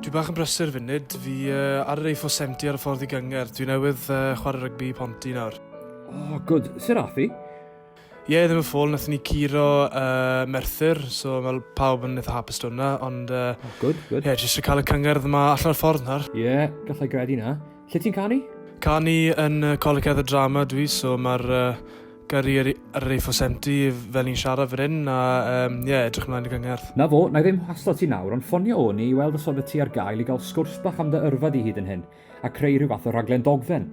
Dwi bach yn brysur funud, fi uh, ar yr A4 70 ar y ffordd i gynger. Dwi newydd uh, chwarae rygbi i Ponti nawr. Oh, good. Sir Athi? Ie, yeah, ddim yn ffôl, nath ni curo uh, Merthyr, so mae pawb yn eitha hapus dod hwnna, ond... Uh, oh, good, good. Ie, yeah, jyst i cael y cyngerdd yma allan o'r ffordd nawr. Ie, yeah, gallai gredu na. Lle ti'n canu? Canu yn uh, Coleg Edda Drama dwi, so mae'r uh, Gyrru yr, yr Efosemti fel ni'n siarad fan hyn a um, yeah, edrych ymlaen i gyngerdd. Na fo, na i ddim haslo ti nawr, ond ffonio o'n i i weld os oedd y ti ar gael i gael sgwrs bach am dy yrfa di hyd yn hyn, a creu rhyw fath o rhaglen dogfen.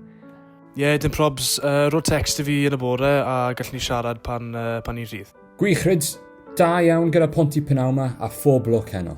Ie, yeah, dim probs. Uh, rho text i fi yn y bore a gallwn ni siarad pan, uh, pan ni'n rhydd. Gwych, Rhyds. Da iawn gyda Ponty Penawma a phob lwc heno.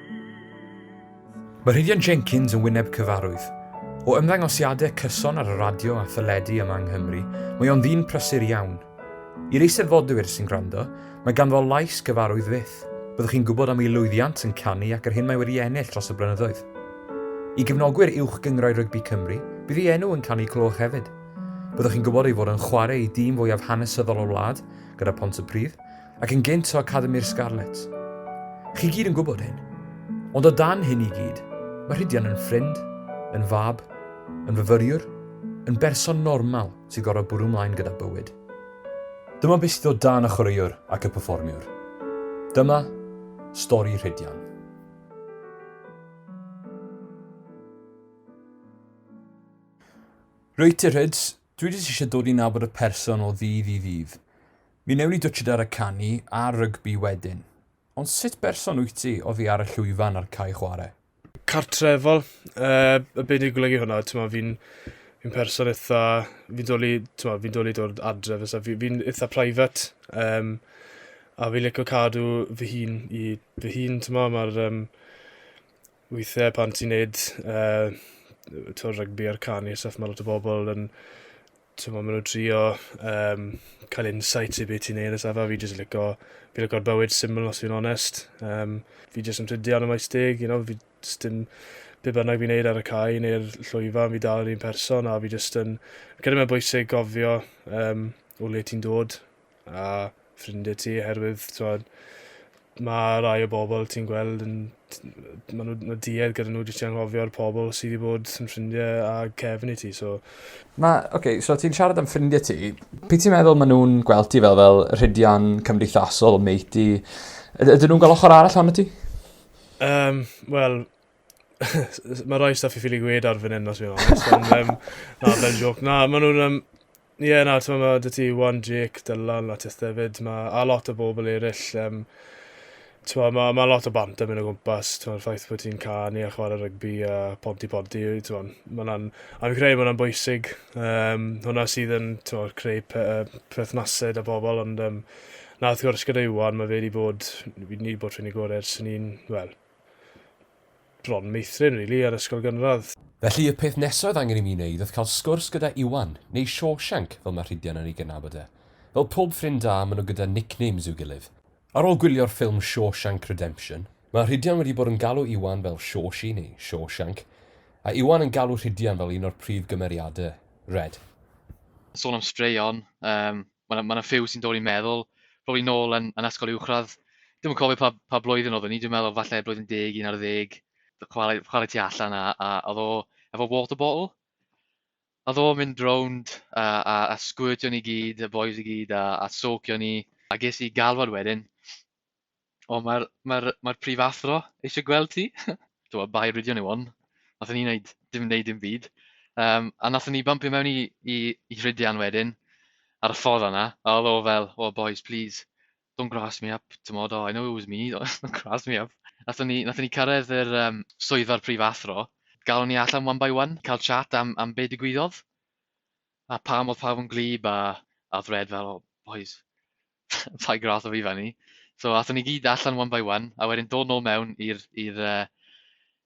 Mae Rhydian Jenkins yn wyneb cyfarwydd. O ymddangosiadau cyson ar y radio a theledu yma yng Nghymru, mae o'n ddyn prysur iawn. I'r Eisteddfodwyr sy'n gwrando, mae ganddo lais gyfarwydd fyth. Byddwch chi'n gwybod am ei lwyddiant yn canu ac yr hyn mae wedi ennill dros y blynyddoedd. I gefnogwyr Uwch Gyngrau Rygbi Cymru, bydd ei enw yn cael ei clywch hefyd. Byddwch chi'n gwybod ei fod yn chwarae i dîm fwyaf hanesyddol y wlad, gyda Pontypridd, ac yn gynt o Academi'r Scarlets. Chi gyd yn gwybod hyn. Ond o dan hyn i gyd, mae Rhydian yn ffrind, yn fab, yn fyfyriwr, yn berson normal sy'n gorfod bwrw mlaen gyda bywyd. Dyma beth sydd o dan y chwaraewr ac y perfformiwr. Dyma stori Rhydian. Rwyt ti Rhyds, Dwi jyst eisiau dod i nabod y person o ddydd i ddydd. Mi newn ni dwtshid ar y canu a rygbi wedyn. Ond sut berson wyt ti oddi ar y llwyfan a'r cae chwarae? Cartrefol. Yy, be' 'di golygu hwnna? T'mo' fi'n fi'n person itha... Fi'n dwli t'mo' fi'n dwli dod adref a stwff. Fi fi'n itha private yym a fi lico cadw fy hun i fy hun t'mo' ma'r yym Weithiau pan ti'n neud uh, to rygbi a'r canu stuff, mae lot o bobl yn ti'n meddwl, maen nhw'n trio um, cael insight i beth ti'n neud a safa. Fi jyst yn licio, fi licio'r bywyd syml os fi'n onest. Um, fi jyst yn trydio yn y maes deg, you know, fi jyst yn be bynnag fi'n neud ar y cae neu'r llwyfan, fi dal yr un person a fi jyst yn... Credu mae'n bwysig gofio um, o le ti'n dod a ffrindiau ti oherwydd t'mod ma' rai o bobl ti'n gweld yn t- yy ma' nw ma' duedd gyda nw jyst i anghofio'r pobol sy 'di bod yn ffrindie â cefn i ti so... Ma' oce so ti'n siarad am ffrindie ti p'un ti'n meddwl ma' nw'n gweld ti fel fel rhidian cymdeithasol matey yd- ydyn nw'n gwel ochor arall ohonot ti? Yym wel mae rhai stuff i ffili gwed ar fan hyn, os fi'n honest. Ond, um, na, fel joc. Na, maen nhw'n... Um, Ie, yeah, na, ti'n meddwl, dy ti Wan Jake, Dylan, at Atest hefyd, ma, a lot o bobl eraill, um, ti'n meddwl, mae ma lot o bant yn mynd o gwmpas, ti'n meddwl, ffaith bod ti'n canu a chwarae rygbi a ponti ponti, ti'n meddwl, mae'n an, a fi'n credu mae'n bwysig, um, hwnna sydd yn, ti'n meddwl, creu pe, uh, perthnasau da bobl, ond, um, na, wrth gwrs gyda Iwan, mae fe wedi bod, ni wedi bod rhywun i gorau ers ni'n, wel, bron meithrin rili ar ysgol gynradd. Felly y peth nesa oedd angen i mi wneud oedd cael sgwrs gyda Iwan, neu Shawshank fel mae Rhidian yn ei gydnabod e. Fel pob ffrind da, maen nhw gyda nicknames i'w gilydd. Ar ôl gwylio'r ffilm Shawshank Redemption, mae Rhidian wedi bod yn galw Iwan fel Shawshi neu Shawshank, a Iwan yn galw Rhidian fel un o'r prif gymeriadau, Red. Sôn am straeon, mae yna, ma yna ffew sy'n dod i'n meddwl, roedd i'n ôl yn, yn ysgol uwchradd, ddim yn cofio pa, pa blwyddyn oedd ni, dwi'n meddwl falle blwyddyn deg, un ar ddeg, chwarae, chwarae tu allan a, a, a ddo efo water bottle. A ddo mynd rownd a, a, a sgwyrtio ni gyd, y boys i gyd, a, a socio ni. A ges i galwad wedyn, O mae'r mae'r mae'r prifathro eisiau gweld ti. Tibod bai rydio nhw on. Nathon ni wneud dim wneud dim byd. Yym a nathon ni bympio mewn i i i Rhydian wedyn ar y ffordd yna a oedd o fel "oh boys please don't grass me up" t'mod "oh I know it was me don't grass me up". Nathon ni nathon ni cyrraedd yr yym swyddfa'r prifathro galon ni allan one by one cael chat am am be' digwyddodd a pam oedd pawb yn gwlyb a a oedd Red fel "oh bois rhai gradd o fi fan ni. So athon ni gyd allan one by one, a wedyn dod nôl mewn i'r i'r uh,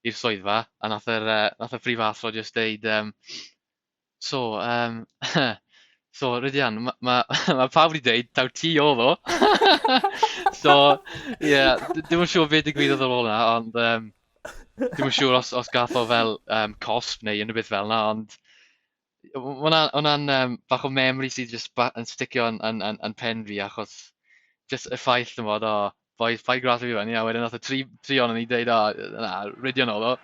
i'r swyddfa, a nath yr, uh, nath y prif athro just deud, um, so, um, so, Rydian, mae ma, ma pawb wedi deud, taw ti o ddo. so, ie, yeah, dim yn siŵr beth digwyddodd ar ôl yna, ond um, dim yn siŵr os, os gath o fel um, cosp neu unrhyw beth fel yna, ond Mae hwnna'n um, bach o memory sydd jyst ba- yn sticio yn, yn, yn, yn pen fi achos jyst y ffaith yn bod, o, boys, paid gras fi fan, a wedyn oedd y tri, tri o'n ni dweud, o, na, rydio nôl o.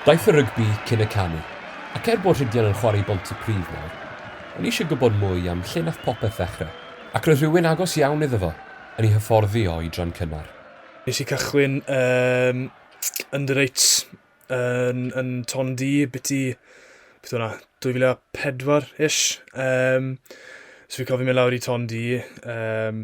Daeth y rygbi cyn y canu, ac er bod Rhydian yn chwarae i Bontypridd nawr, O'n i eisiau gwybod mwy am lle nath popeth ddechre, ac roedd rhywun agos iawn iddo fo yn ei hyfforddi o i dran cynnar. Nes i cychwyn yn under eights yn yn Ton Du biti beth o'na 2004 ish yym so fi'n cofio mynd lawr i Ton Du yym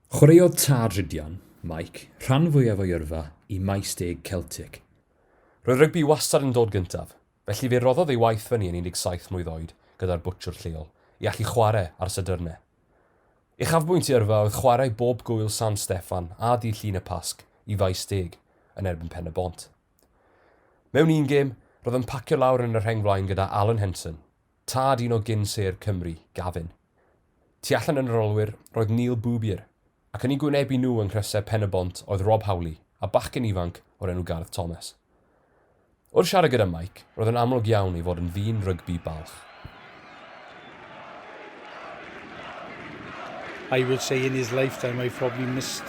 Chwaraeodd tad Rhydian, Mike, rhan fwyaf o'i yrfa i Maes Deg Celtic. Roedd rygbi wastad yn dod gyntaf, felly fe roddodd ei waith fyny yn 17 mlwydd oed gyda'r bwtsiwr lleol, i allu chwarae ar Sadyrne. Uchafbwynt ei yrfa oedd chwarae bob Gŵyl San Steffan a dydd Llun y Pasg i Faes Deg yn erbyn Pen-y-bont. Mewn un gêm, roedd yn pacio lawr yn y rheng flaen gyda Alan Henson, tad un o gyn-sêr Cymru, Gavin. Tu allan yn yr olwyr roedd Neil Boobier, ac yn eu gwynebu nhw yng nghrysau Pen-y-bont oedd Rob Howley a bachgen ifanc o'r enw Garth Thomas. Wrth siarad gyda Mike, roedd yn amlwg iawn ei fod yn ddyn rygbi balch. I would say in his lifetime I probably missed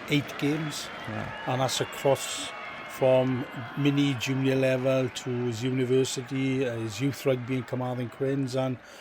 eight games, yeah. and that's across from mini junior level to his university, uh, his youth rugby in Carmarthen Quins, and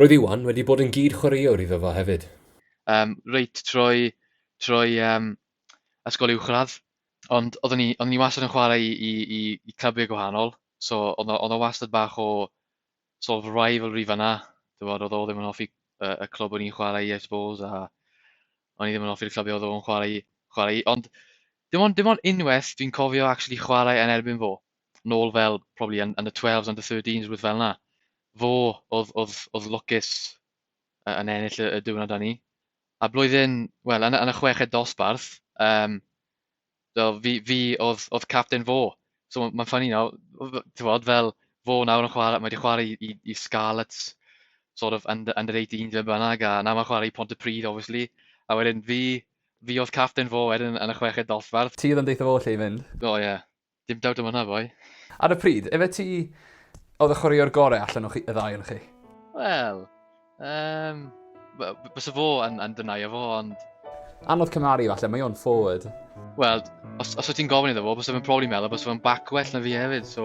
Roedd Iwan wedi bod yn gyd chwaraewr iddo fo hefyd. Yym reit trwy trwy yym ysgol uwchradd ond oeddwn i oeddwn i wastad yn chwarae i i i i clybiau gwahanol so oedd oedd o wastad bach o sort of rivalry fan'na t'mod oedd o ddim yn hoffi y y clwb o'n i'n chwarae i I suppose a o'n i ddim yn hoffi'r clybiau oedd o'n chwarae i chwarae i ond dim ond dim ond unwaith dwi'n cofio actually chwarae yn erbyn fo nôl fel probably yn, yn y 12s, under 13s, rhywbeth fel yna. Fo oedd, oedd, oedd lwcus yn ennill y, y diwrnod â ni. A blwyddyn, wel, yn, yn y chweched dosbarth, um, do, fi, fi oedd, oedd captain fo. So mae'n ffynnu you nawr, ti'n bod, fel fo nawr yn chwarae, mae wedi chwarae i, i, i Scarlets, sort of under, under 18 fe bynnag, a nawr mae'n chwarae i Pont y Pryd, obviously. A wedyn fi, fi oedd captain fo wedyn yn y chweched dosbarth. Ti oedd yn deitha fo lle i fynd. O oh, ie. Yeah. Dim dawt am hwnna boi. Ar y pryd, efe ti oedd y chwaraewr gore allan o chi, y ddau ohonoch chi? Wel, um, bysa fo yn, yn dynaio fo, ond... Anodd cymaru falle, mae o'n forward. Wel, os, os wyt ti'n gofyn iddo fo, bysa fe'n probably meddwl bysa fe'n back well na fi hefyd, so...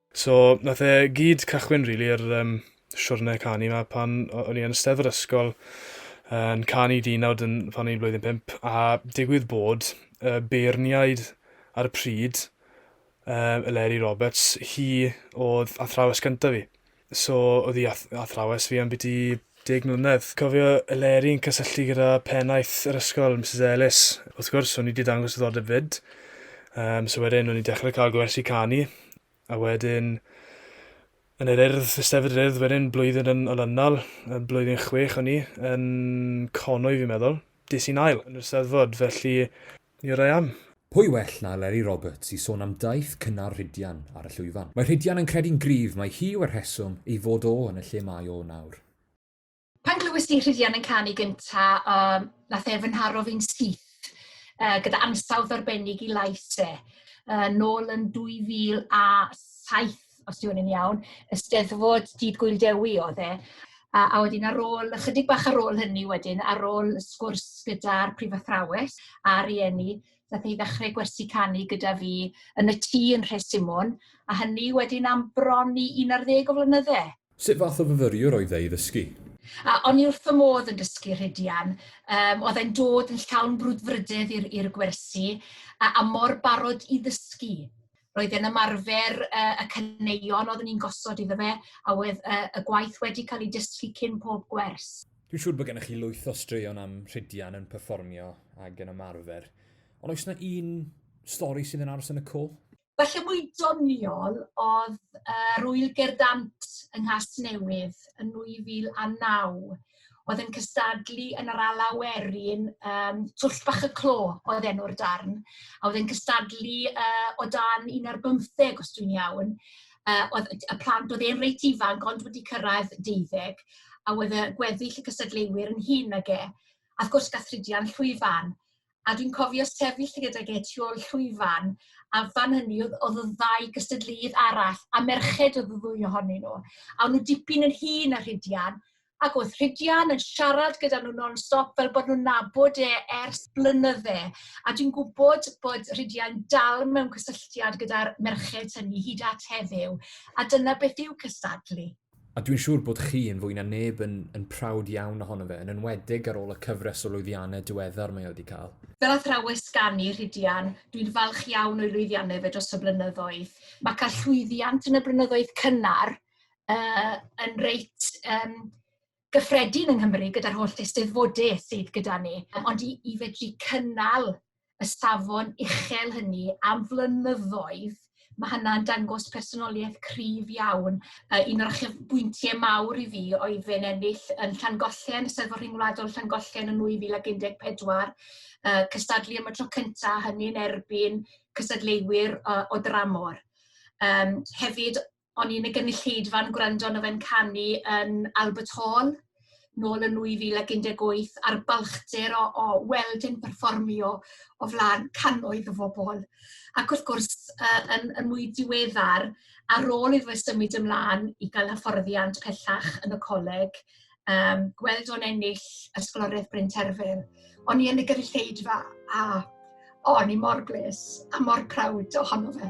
So, nath e gyd cychwyn rili really, yr um, siwrne canu yma pan o'n i yn y yr ysgol yn canu dynawd yn, pan o'n i'n blwyddyn pimp, a digwydd bod y beirniaid ar y pryd, um, Eleri Roberts, hi oedd athrawes gyntaf fi. So, oedd hi ath athrawes fi am byti deg mlynedd. Cofio Eleri yn cysylltu gyda pennaeth yr ysgol, Mrs Ellis. Wrth gwrs, o'n i wedi dangos ddiddordeb fyd. Um, so wedyn, o'n i dechrau cael gwersi canu. A wedyn, yn yr urdd, ystafell yr urdd wedyn, blwyddyn yn olynol, blwyddyn chwech o'n i, yn Conwy fi'n meddwl, des i'n ail yn yr Eisteddfod, felly Here I am. Pwy well na Eleri Roberts i sôn am daith cynnar Rhydian ar y llwyfan. Mae Rhydian yn credu'n gryf mai hi yw'r rheswm ei fod o yn y lle mae o nawr. Pan glywes di Rhydian yn canu gynta, yym, nath e fy nharo fi'n syth, yy, gyda ansawdd arbennig i lais e, yy, nôl yn 2007. os dwi'n yn iawn, y steddfod Dydd Gwyl Dewi oedd e. A, a wedyn ar ôl, ychydig bach ar ôl hynny wedyn, ar ôl y sgwrs gyda'r prif athrawes a rhieni, ddaeth i ddechrau gwersi canu gyda fi yn y tŷ yn Rhesimon, a hynny wedyn am bron i 11 o flynyddau. Sut fath o fyfyriwr oedd e i ddysgu? A, o'n i wrth fy modd yn dysgu Rhidian. Um, oedd e'n dod yn llawn brwdfrydedd i'r gwersi a, a mor barod i ddysgu. roedd e'n ymarfer yy y caneuon oeddwn i'n gosod iddo fe, a oedd y, y gwaith wedi cael ei dysgu cyn pob gwers. Dwi'n siŵr bod gennych chi lwyth o straeon am Rhydian yn perfformio ag yn ymarfer, ond oes yna un stori sydd yn aros yn y co? Felly mwy doniol oedd uh, Rwyl Gerdant yng Nghas Newydd yn 2009. oedd yn cystadlu yn yr Alaw Werin, yym, Twll Bach y Clo oedd enw'r darn, a oedd yn cystadlu uh, o dan un ar bymtheg, os dwi'n iawn. Uh, oedd y plant, oedd e'n reit ifanc, ond wedi cyrraedd deuddeg, a oedd y gweddill y cystadleuwyr yn hun ag e. A wrth gwrs, gath Rhydian llwyfan. A dwi'n cofio sefyll gydag e tu ôl llwyfan, a fan hynny oedd, oedd y ddau gystadleudd arall, a merched oedd y ddwy ohonyn nhw. A o'n nhw dipyn yn hun a Rhidian, ac oedd Rhidian yn siarad gyda nhw non-stop fel bod nhw'n nabod e ers blynydde. A dwi'n gwybod bod Rhidian dal mewn cysylltiad gyda'r merched hynny hyd at heddiw. A dyna beth yw cystadlu. A dwi'n siŵr bod chi yn fwy na neb yn, yn prawd iawn ohono fe, yn enwedig ar ôl y cyfres o lwyddiannau diweddar mae wedi cael. Fel athrawes ganu, Rhidian, dwi'n falch iawn o'i lwyddiannau fe dros y blynyddoedd. Mae cael llwyddiant yn y blynyddoedd cynnar uh, yn reit um, gyffredin yng Nghymru gyda'r holl eisteddfodau sydd gyda ni, ond i, i fedru cynnal y safon uchel hynny am flynyddoedd, mae hynna'n dangos personoliaeth cryf iawn. Uh, un o'r achub bwyntiau mawr i fi oedd fe'n ennill yn Llangollen, y Seddfod Rhyngwladol Llangollen yn 2014, uh, cystadlu am y tro cyntaf hynny'n erbyn cystadleuwyr uh, o dramor. Um, hefyd, o'n i'n y gynulleidfa yn gwrando arno fe'n canu yn Albert Hall nôl yn 2018 a'r balchder o, o weld yn perfformio o flaen cannoedd o bobl. Ac wrth gwrs, uh, yn, yn mwy diweddar, ar ôl iddo fe symud ymlaen i gael hyfforddiant pellach yn y coleg, um, gweld o'n ennill Ysgoloriaeth Bryn Terfyn, o'n i yn y gyrrlleidfa a o'n i mor bles a mor prawd ohono fe.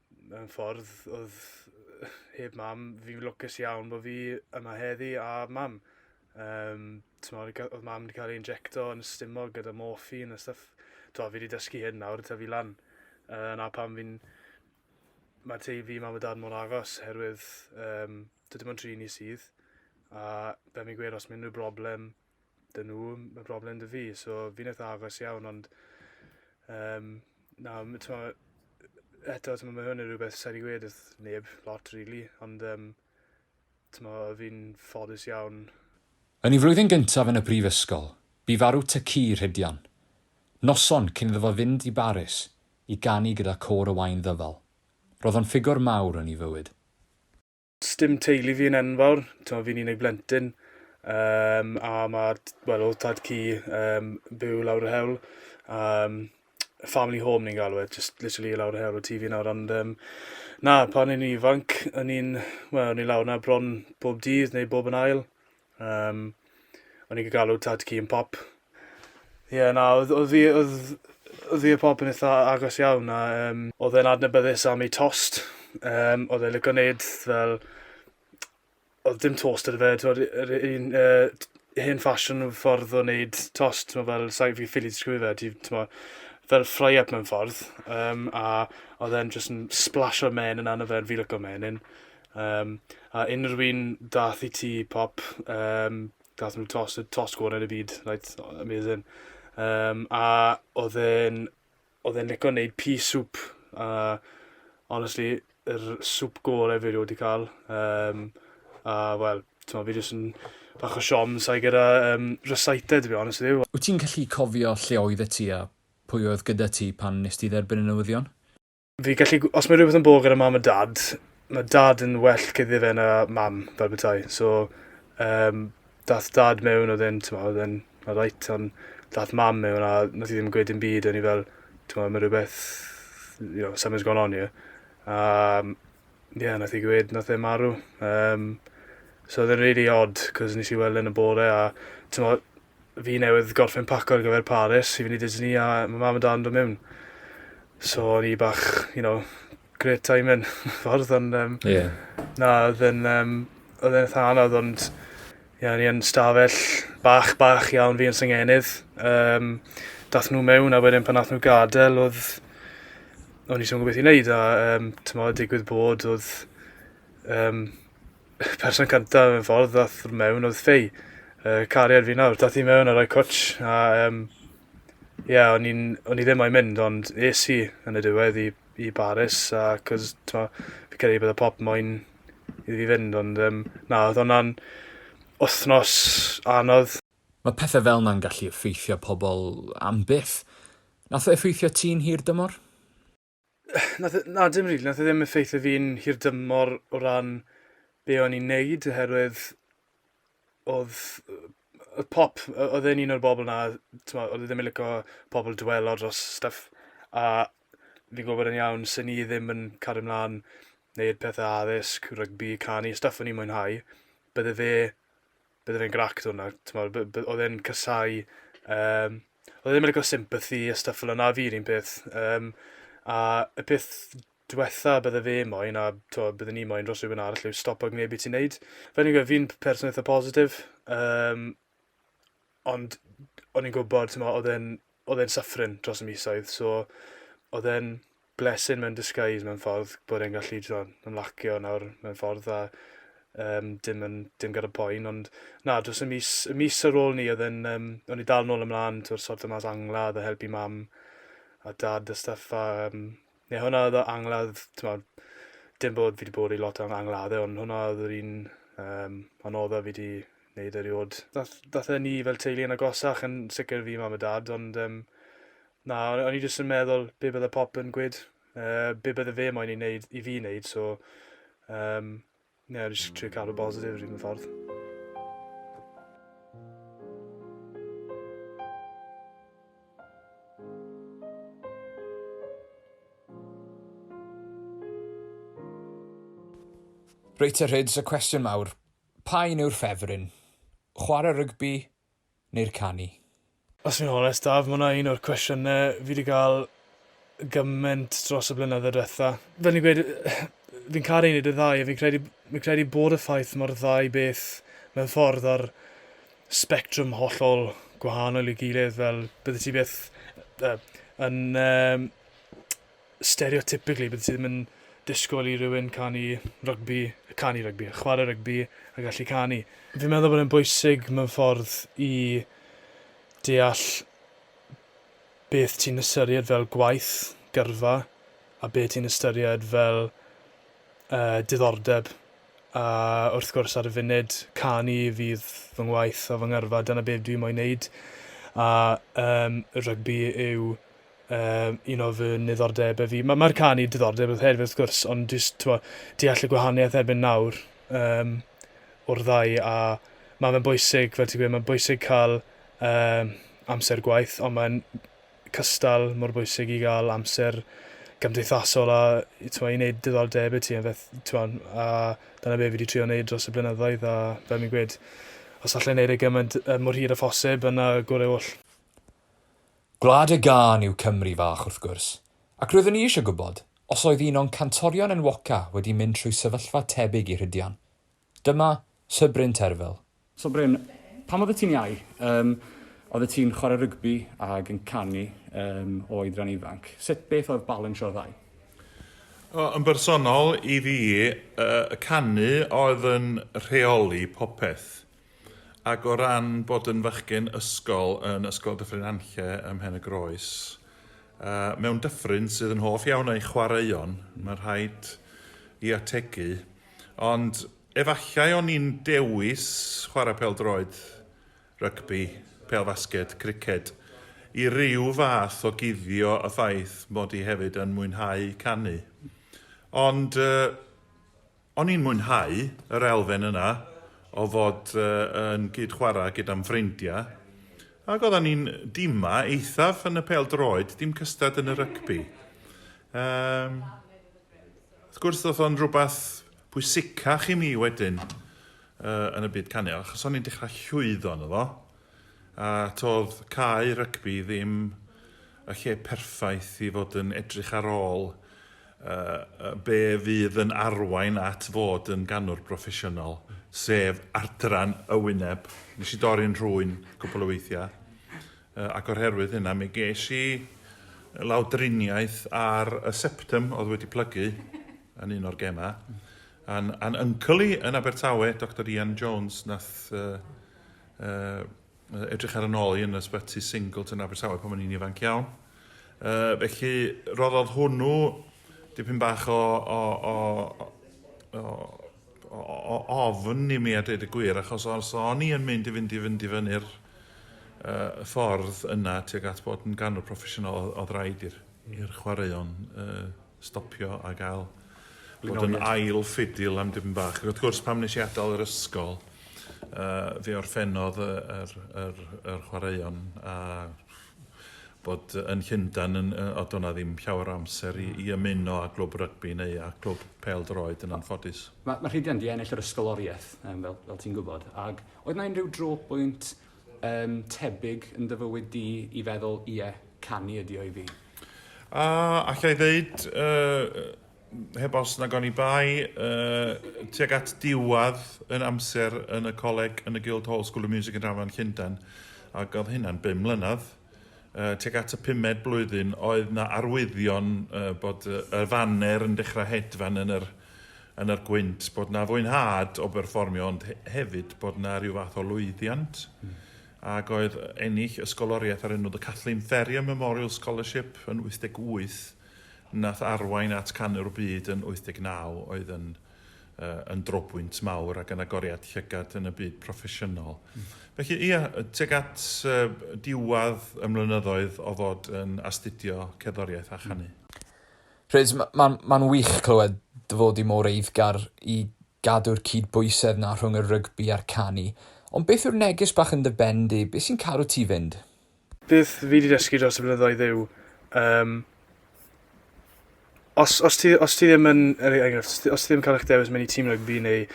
mewn ffordd oedd heb mam, fi'n lwcus iawn bod fi yma heddi a mam. Um, Tymod, oedd mam wedi cael ei injecto yn ystimo gyda morphine a stuff. To, fi wedi dysgu hyn nawr, ta fi lan. Uh, na pam fi'n... Mae tei fi, mam a dad mor agos, herwydd um, dydym ond tri ni sydd. A fe mi'n gweud, os mae unrhyw broblem, 'dyn nhw ma' broblem 'da fi so fi'n itha agos iawn ond yym na m- t'mo' yy eto t'mo' ma' hwn yn rwbeth sai 'di gweud wrth neb lot rili ond yym t'mo' fi'n ffodus iawn Yn ei flwyddyn gyntaf yn y brifysgol, bu farw tŷ ci Rhydian, noson cyn iddo fo fynd i Baris i ganu gyda Côr y Wain Ddyfal. Roedd o'n ffigwr mawr yn ei fywyd. Sdim teulu fi yn enfawr, t'mo' fi'n unig blentyn yym a ma' t- wel odd tad cu yym byw lawr yr hewl a yym family home ni'n galw e jyst literally lawr yr hewl o tŷ fi nawr ond yym na pan o'n i'n ifanc o'n i'n wel o'n i lawr 'na bron bob dydd neu bob yn ail Um, o'n i'n galw tad ci yn pop. Ie, yeah, na, oedd oedd hi oedd oedd hi y pop yn eitha agos iawn a um, oedd e'n adnabyddus am ei tost. Um, oedd e'n licio wneud fel... Oedd dim tost ar y fe, t'mod yr un uh, hen ffasiwn o ffordd o wneud tost, t'mo' fel sa fi ffili disgrifio fe ti t'mo' fel fry up mewn ffordd, um, a oedd e'n jyst yn splasho men yn yna fe, fi licio menyn. Um, a unrhyw un dath i ti pop, um, dath nhw tos, tos gorau yn y byd, right, amazing. Um, a oedd e'n, oedd e'n licio wneud pea soup, a honestly, yr soup gorau fi wedi cael. Um, a, wel, ti'n fi jyst yn bach o siom sa'i gyda um, recited, fi honest yw. Wyt ti'n gallu cofio lle oedd y ti a pwy oedd gyda ti pan nes ti dderbyn y newyddion? fi gallu... Os mae rhywbeth yn bod gyda mam a dad, mae dad yn well cyddi fe na mam, fel bethau. So, um, dath dad mewn, oedd e'n, ti'n oedd e'n reit, ond dath mam mewn a nath i ddim gweud yn byd, o'n i fel, ti'n mae rhywbeth, you know, something's gone on here. Um, ie, yeah, nath i gweud, nath e marw. Um, so, oedd e'n really odd, cos nes i weld yn y bore a, ti'n Fi newydd gorffen paco ar gyfer Paris i fynd i Disney a ma' mam a dad yn do' miwn. So o'n i bach, you know, great timing mewn ffordd ond um, yeah. na, oedd yn, um, oedd yn eitha anodd ond yeah, ni yn stafell bach, bach iawn fi yn syngenydd. Um, dath nhw mewn a wedyn pan nath nhw gadael oedd o'n i sôn gwybeth i wneud a um, tymod digwydd bod oedd um, y person cyntaf mewn ffordd ddath mewn oedd Fei, y cariad fi nawr. Dath i mewn a rhoi cwtsh a um, ie, yeah, o'n, o'n i ddim moyn mynd ond es i yn y diwedd i, i Baris a cos t'mo' fi credu bod y pop moyn i fi fynd ond um, na oedd hwnna'n wythnos anodd. Mae pethau fel na'n gallu effeithio pobl am byth. Nath o effeithio ti'n hir dymor? Nath e... Na, dim rili. Nath e ddim effeithio fi'n hirdymor o ran be o'n i'n neud oherwydd oedd oedd pop... o- oedd e'n un o'r bobl 'na, t'mo', oedd e ddim yn lico pobl dwelo dros stwff a fi'n gwybod yn iawn 'sen i ddim yn cario mlan neud pethe addysg, rygbi, canu, stwff o'n i'n mwynhau, bydde fe bydde fe'n grac 'da hwnna, t'mod by- by- oedd e'n casáu yym oedd e ddim yn lico sympathy a stwff fel yna, a fi 'r un peth yym a y peth dwetha bydde fe moyn a t'mod bydden i moyn dros rywun arall yw stopo gwneud be' ti'n neud. Fel fi'n gweud fi'n p- person eitha positif yym ond o'n i'n gwbod t'mo' odd e'n oedd e'n suffering dros y misoedd, so oedd e'n blessing mewn disguise mewn ffordd bod e'n gallu t'mod ymlacio nawr mewn ffordd a um, dim yn dim gyda poen ond na dros y mis y mis ar ôl ni oedd e'n um, o'n i dal nôl ymlaen tw'r sort o mas angla oedd y helpu mam a dad a stuff a um, Ie, hwnna oedd o angladd, t'mod, dim bod fi wedi bod i lot o angladdau, ond hwnna oedd yr un um, anodda fi wedi gwneud erioed. Dath, dath e ni fel teulu yn agosach yn sicr fi mam a dad, ond um, na, o'n i jyst yn meddwl be bydde pop yn gwyd, uh, be bydde fe moyn i, neud, i fi wneud, so um, Ie, jyst trio cadw bositif yr un ffordd. Reit a rhyds y cwestiwn mawr, pa un yw'r ffefryn? Chwarae rygbi neu'r canu? Os fi'n onest Daf, ma' hwnna un o'r cwestiyne fi 'di ga'l gyment dros y blynydde dwetha. Fel o'n i'n gweud fi'n caru neud y ddau a fi'n credu fi'n credu bod y ffaith ma'r ddau beth mewn ffordd ar sbectrwm hollol gwahanol i'w gilydd fel byddet ti byth yy yn yym stereotypically byddet ti ddim yn disgwyl i rywun canu rygbi, canu rygbi, chwarae rygbi a gallu canu. Fi'n meddwl bod e'n bwysig mewn ffordd i deall beth ti'n ystyried fel gwaith, gyrfa, a beth ti'n ystyried fel uh, diddordeb. A wrth gwrs ar y funud, canu fydd fy ngwaith a fy ngyrfa, dyna beth dwi'n moyn neud. A um, rygbi yw um, un o fy niddordebau fi. Mae'r ma canu diddordeb oedd hefyd wrth gwrs, ond jyst twa, deall y gwahaniaeth erbyn nawr um, o'r ddau, a mae fe'n bwysig, fel ti'n gweud, mae'n bwysig cael um, amser gwaith, ond mae'n cystal mor bwysig i gael amser gymdeithasol a twa, i wneud diddordeb i ti, a, feth, twa, a dyna be fi wedi trio wneud dros y blynyddoedd, a fel mi'n gweud, os allai wneud e gymaint mor hir a phosib, yna gorau oll. Gwlad y gân yw Cymru fach wrth gwrs, ac roeddwn i eisiau gwybod os oedd un o'n cantorion enwoca wedi mynd trwy sefyllfa tebyg i Rhydian. Dyma Sir Bryn Terfel. So Bryn, pan oeddet ti'n iau, yym, oeddet ti'n chwarae rygbi ag yn canu yym, o oedran ifanc. Sut beth oedd balansio'r ddau? O, yn bersonol, i fi, yy, y canu oedd yn rheoli popeth. Ac o ran bod yn fachgen ysgol yn Ysgol Dyffryn Nantlle ym Mhen-y-groes, mewn dyffryn sydd yn hoff iawn o'i chwaraeon, mae'n rhaid i ategu, ond efallai o'n i'n dewis chwarae pêl-droed, rygbi, pêl-fasged, criced, i ryw fath o guddio y ffaith mod i hefyd yn mwynhau canu. Ond yy. O'n i'n mwynhau yr elfen yna o fod yn gyd-chwarae gyda'm ffrindiau, ac oeddan ni'n dima eithaf yn y pêl-droed, dim cystad yn y rygbi. Yym, wrth gwrs, ddoth o'n rhywbeth pwysicach i mi wedyn uh, yn y byd canu, achos o'n i'n dechrau llwyddo yn efo, a todd cae rygbi ddim y lle perffaith i fod yn edrych ar ôl a be fydd yn arwain at fod yn ganwr broffesiynol, sef adran y wyneb. Nes i dorri'n rhwyn cwpl o weithiau, uh, ac o'r herwydd hynna mi ges i lawdriniaeth ar y septum oedd wedi plygu yn un o'r gemau. A'n, an uncle i yn Abertawe, Dr Ian Jones, nath uh, uh, Yy, edrych ar yn ôl i yn ysbyty Singleton Abertawe pan o'n i'n ifanc iawn. Yy, felly, roddodd hwnnw dipyn bach o, o, o, o, o, o ofn i mi a dweud y gwir, achos os o'n i yn mynd i fynd i fynd i fyny'r uh, ffordd yna tuag at bod yn ganwr proffesiynol, oedd rhaid i'r chwaraeon uh, stopio a gael bod yn ail ffidil am dim bach. Ac wrth gwrs, pam nes i adael yr ysgol, uh, fe orffennodd yr, yr, yr, yr chwaraeon a bod yn Llundan yn, o do'na ddim llawer o amser i, i ymuno â glwb rygbi neu a glwb pel droed yn anffodus. Mae, mae Rhydian di ennill yr ysgoloriaeth, um, fel, fel ti'n gwybod, ac oedd na unrhyw dro bwynt Yn tebyg yn dy fywyd di i feddwl, ie, canu ydi o i fi. A allai ddeud, yy, heb os nag oni bai, yy, tuag at diwadd yn amser yn y coleg yn y Guildhall School of Music and Drama yn Llundain, ac oedd hynna'n bum mlynedd, yy tuag at y pumed blwyddyn oedd 'na arwyddion yy bod yy y faner yn dechra hedfan yn yr yn yr gwynt bod 'na fwynhad o berfformio ond he- hefyd bod 'na ryw fath o lwyddiant hmm. ag oedd ennill ysgoloriaeth ar enw The Kathleen Ferrier Memorial Scholarship yn 88 nath arwain at canu'r byd yn 89 oedd yn yn drobwynt mawr ac yn agoriad llygad yn y byd proffesiynol. Mm. Felly, ia, teg at uh, diwadd y mlynyddoedd o fod yn astudio cerddoriaeth a chanu. Rhys, mae'n ma, ma wych clywed dy fod i mor eiddgar i gadw'r cyd-bwysedd na rhwng y rygbi a'r canu. Ond beth yw'r neges bach yn dy ben di? Beth sy'n cadw ti fynd? Beth fi 'di dysgu dros y blynyddoedd yw yym os os ti os ti ddim yn er e- enghraifft os ti os ti ddim ca'l 'ych dewis myn' i tîm rygbi neu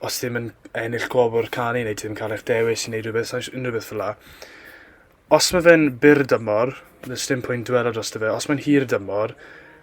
os ti'm yn ennill gwobr canu neu ti ddim ca'l 'ych dewis i neud rwbeth saish unrhyw beth fela os ma' fe'n byr dymor does dim pwynt dwela drosto fe os mae'n hir dymor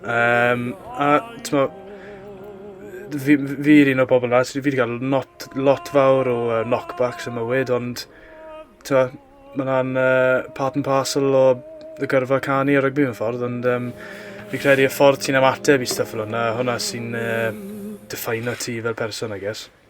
Um, a, tyma, fi, fi yr un o bobl na, fi wedi cael lot, lot fawr o uh, knockbacks y mywyd, ond tyma, mae hwnna'n uh, part and parcel o y gyrfa canu a rygbi mewn ffordd, ond um, fi credu y ffordd ti'n ymateb i stuff fel hwnna, hwnna sy'n uh, define ti fel person, I guess.